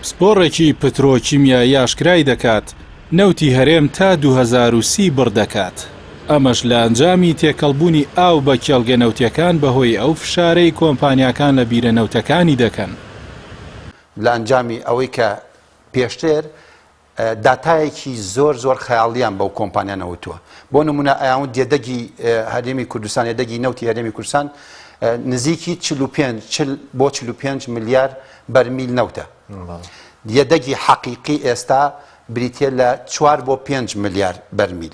پسپۆڕێکی پترۆکیمیایی ئاشکرای دەکات، نەوتی هەرێم تا دوو هەزار و سی بڕ دەکات، ئەمەش لە ئەنجامی تێکەڵبوونی ئاو بە کێڵگە نەوتییەکان بەهۆی ئەو فشارەی کۆمپانیاکان لە بیرە نەوتەکانی دەکەن. لە ئەنجامی ئەوەی کە پێشتر. داتایەکی زۆر زۆر خەیاڵییان بەو کۆمپانیا نەوتووە. بۆ نموونە ئەیاون دێدەگی هەرێمی کوردستان یەدەگی نەوتی هەرێمی کوردستان نزیکی چل و پێنج چل بۆ چل و پێنج ملیار بەرمیل نەوتە. یەدەگی حەقیقی ئێستا بریتییە لە چوار بۆ پێنج ملیار بەرمیل.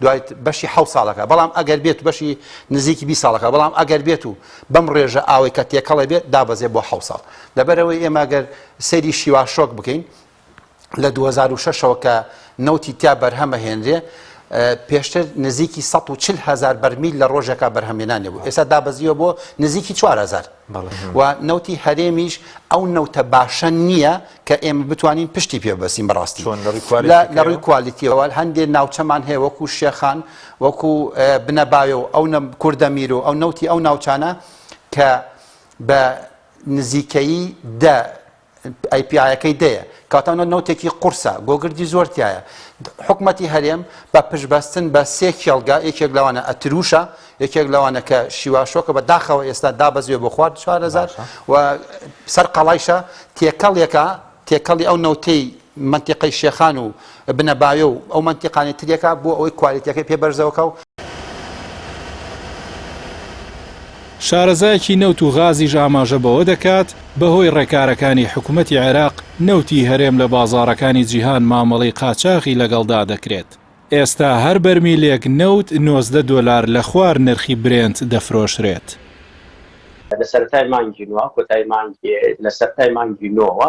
دوای بەشی حەوت ساڵەکە بەڵام ئەگەر بێت بەشی نزیکی بیست ساڵەکە بەڵام ئەگەر بێت و بەم ڕێژە ئاوەی کە تێکەڵە بێت دابەزێت بۆ حەوت ساڵ لەبەرەوەی ئێمە گەر سەیری شیوا شۆک بکەین لە 2006 ەوە کە نەوتی تیا بەرهەمە هێنرێ پێشتر نزیکی 140 هزار بەرمیل لە ڕۆژێکا بەرهەمێنانێ بوو ئێستا دابەزیوە بۆ نزیکی 4 هزار و نەوتی هەرێمیش ئەو نەوتە باشە نییە کە ئێمە بتوانین پشتی پێ بەستین بە ڕاستی لە ڕووی کوالیتیەوە هەندێ ناوچەمان هەیە وەکو شێخان وەکو بنەباێ و ئەو کوردە میر و ئەو نەوتی ئەو ناوچانە کە بە نزیکەی دە ئەی پی ئایەکەی دەیە کاتە نۆ نۆتێکی قورسە گۆگردی زۆر تایە حکومەتی هەرێم بە پشبەستن بە سێ کێڵگە یەکێک لەوانە ئەتروشە یەکێک لەوانە کە شیواشۆکە بە داخەوە ئێستا دابەزیێ بۆ خوارد چارەزار و سەر قەڵایشە تێکەڵێکە تێکەڵی ئەو نەوتەی منتیقەی شێخان و بنە بایۆ و ئەو مەنتیقانەی تریەکە بۆ ئەوەی کوالیتیەکەی پێ بەرزەوەکا و. شارەزایەکی نەوت و غازیش ئاماژە بەوە دەکات، بەهۆی ڕێکارەکانی حکومەتی عێراق، نەوتی هەرێم لە بازاڕەکانی جیهان مامەڵەی قاچاغی لەگەڵدا دەکرێت، ئێستا هەر بەرمیلێک نەوت نۆزدە دۆلار لە خوار نرخی برێنت دەفرۆشرێت. لە سەرەتای مانگی نۆ کۆتایی مانگی لە سەرەتای مانگی نۆوە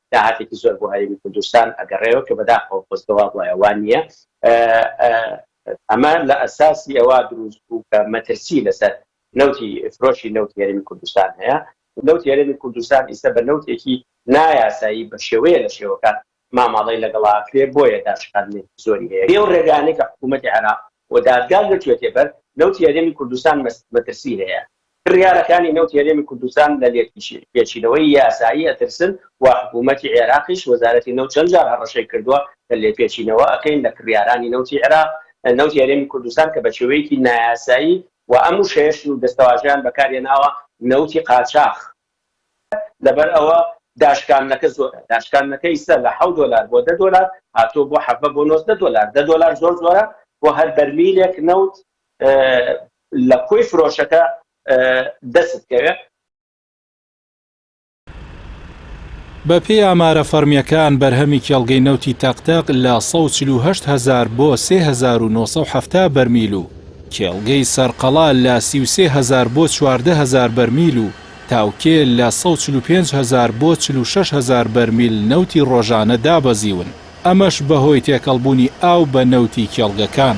داهاتێکی زۆر بۆ هەرێمی کوردستان ئەگەڕێوە کە بەداخەوە خۆزگە وابوایە وا نییە. ئەمە لە ئەساسی ئەوە دروست بوو کە مەترسی لەسەر نەوتی فرۆشی نەوتی هەرێمی کوردستان هەیە. نەوتی هەرێمی کوردستان ئیستە بە نەوتێکی نایاسایی بە شێوەیە لە شێوەکان مامەڵەی لەگەڵا ئەکرێ بۆیە داشکاندنێکی زۆری هەیە. بێ و رێگانەی کە حکوومەتی عێراق و دادگا گرتوویەتێ بەر، نەوتی هەرێمی کوردستان مەترسی هەیە کڕیارەکانی نەوتی هەرێمی کوردستان لە لێپێچینەوەی یاسایی ئەترسن و حکوومەتی عێراقیش، وەزارەتی نەوت چەند جار هەڕەشەی کردووە کە لێپێچینەوە ئەکەین لە کڕیارانی نەوتی عێراق، نەوتی هەرێمی کوردستان کە بە شێوەیەکی نایاسایی و ئەم وشەیەش سوور دەستەواژەیان بەکار هێناوە، نەوتی قاچاخ. لەبەر ئەوە داشکاندنەکە زۆرە، داشکاندنەکە ئیستا لە حەوت دۆلار بۆ دە دۆلار هاتووە بۆ حەڤە بۆ نۆزدە دۆلار، دە دۆلار زۆر زۆرە بۆ هەر بەرمیلێک نەوت، لە کۆی فرۆشەکە دەست کەوێ. بە پێی ئامارە فەڕمیەکان بەرهەمی کێڵگەی نەوتی تەق تەق لە سەد و چل و هەشت هەزار بۆ سێ هەزار و نۆ سەد و حەفتا بەرمیل و کێڵگەی سەرقەڵا لە سی و سێ هەزار بۆ چواردە هەزار بەرمیل و تاوکێ لە سەد و چل و پێنج هەزار بۆ چل و شەش هەزار بەرمیل نەوتی ڕۆژانە دابەزیون. ئەمەش بەهۆی تێکەڵبوونی ئاو بە نەوتی کێڵگەکان.